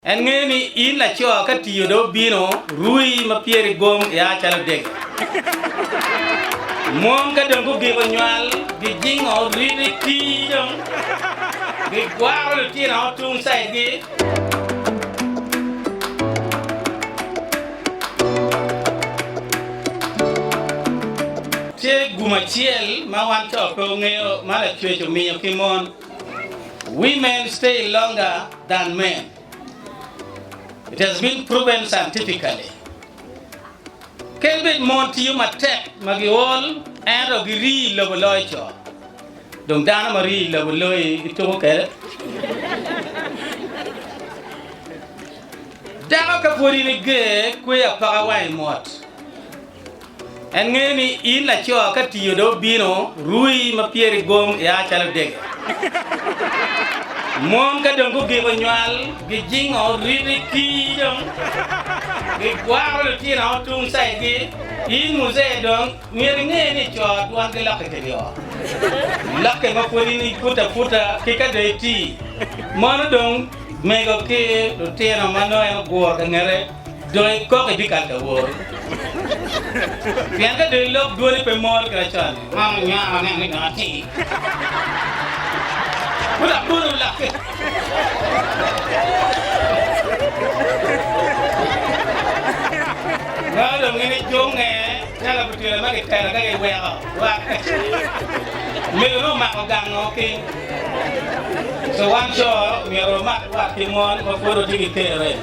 En ngeyo ni in laco ka tiyo do bino rui ma pyeri gom ya calo dege. Mon ka dong gugiko nywal gijingo riti tii dong gigwaro litino tung side gi. Tye gum acel ma wan co pe ongeyo ma lacwec omiyo ki mon. Women stay longer than men, it has been proven scientifically. Kadi bed mon tiyo matek ma giol ento girii i lobo loyo co. Dong dano ma rii i lobo loyi ituko kwede? Dako ka pwod in iger, kweyo apaka wang i mot. En ngeyo ni in laco ka tiyo dong obino rui ma pyeri gom ia calo dege. Mon ka dong gugiko nywal gijingo riti kii dong gigwaro litino tung sayigi. In muzee dong myero inge ni co dwongi lokke kedi oo, lokke ma pwod in ipute aputa ki ka dong itii. Mono dong mego ki litino ma nongo en oguro ka ngete Dong ikok ibikal ka woro. Pien ka dong ilok dwoni pe mol kit acel-li. Man onywako aneno ni dong atir. Pud abolo lakke. Meno dong gin icunge calo abitwelo ma kitelo ka giweko war ka ce. Omego nongo omako gang o ki. So wan co myero wamat wat ki mon ma pwod watye ki kerre.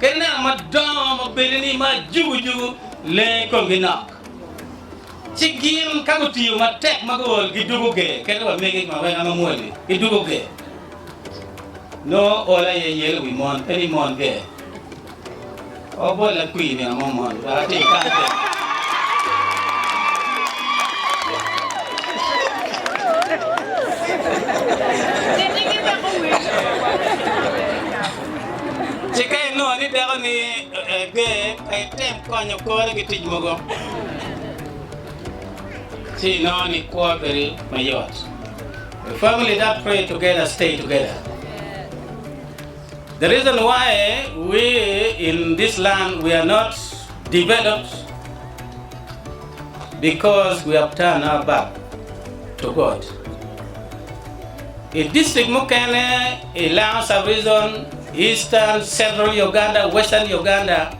Kadi neno madongo ma bene ni ma jugujugu lengo i komgi nok, ci gin ka gutiyo matek ma guol gidugo ger. Kadi wamege ma weng ma mwol-li gidugo ger, nongo ol aye yelo wi mon pe ni mon ger. O bot lakwir nino mo mono, dok atim kare kene. Ci ka inongo ni dakoni ger, pe item konyo kore ki tic mogo, ci inongo ni kwo bedo mayot. A family that pray together stay together. The reason why we in this land we are not developed. because we have turned our back to God. I district mukene i Langa Sub-Region, Eastern, Central Uganda, Western Uganda,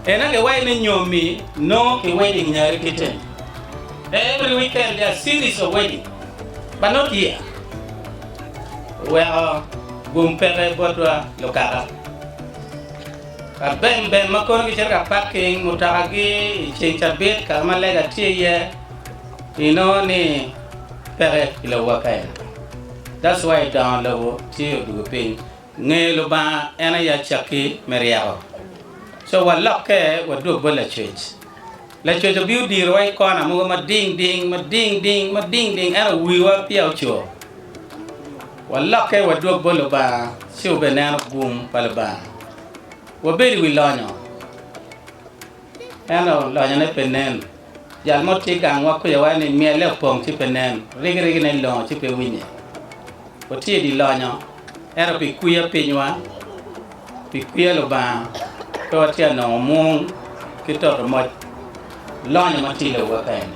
ena ki wayo ni nyomi nongo ki wedding nyare ki tem. Every weekend there are series of wedding but not here. Weko gum peke botwa lukaka. Ka bemben ma kono gicito ka paking mutokagi i ceng cabit kare ma lega tye iye, inongo ni peke i lowa ka en aye. That's why i dongo lobo tye odugo piny. Ngeyo Lubanga en aye acakki me ryeko. So walokke wadwog bot Lacwec. Lacoco bino dirowa i kona mogo mading ding, mading ding, mading ding, ento wiwa peya ocur. Walokke wadwog bot Lubanga ci wabineno gum pa Lubanga. Wabed i wi lonyo, ento lonyone pe nen. Jal mo tye gangwa kwiyowa ni myelle opong ci pe nen, rigirigine longo ci pe winye. Watye i dye lonyo, ento pi kwiya pinywa. Tic peya Lubanga, pe watye anongo mwong ki toto moc lonyo ma tye i lobo kaka eni.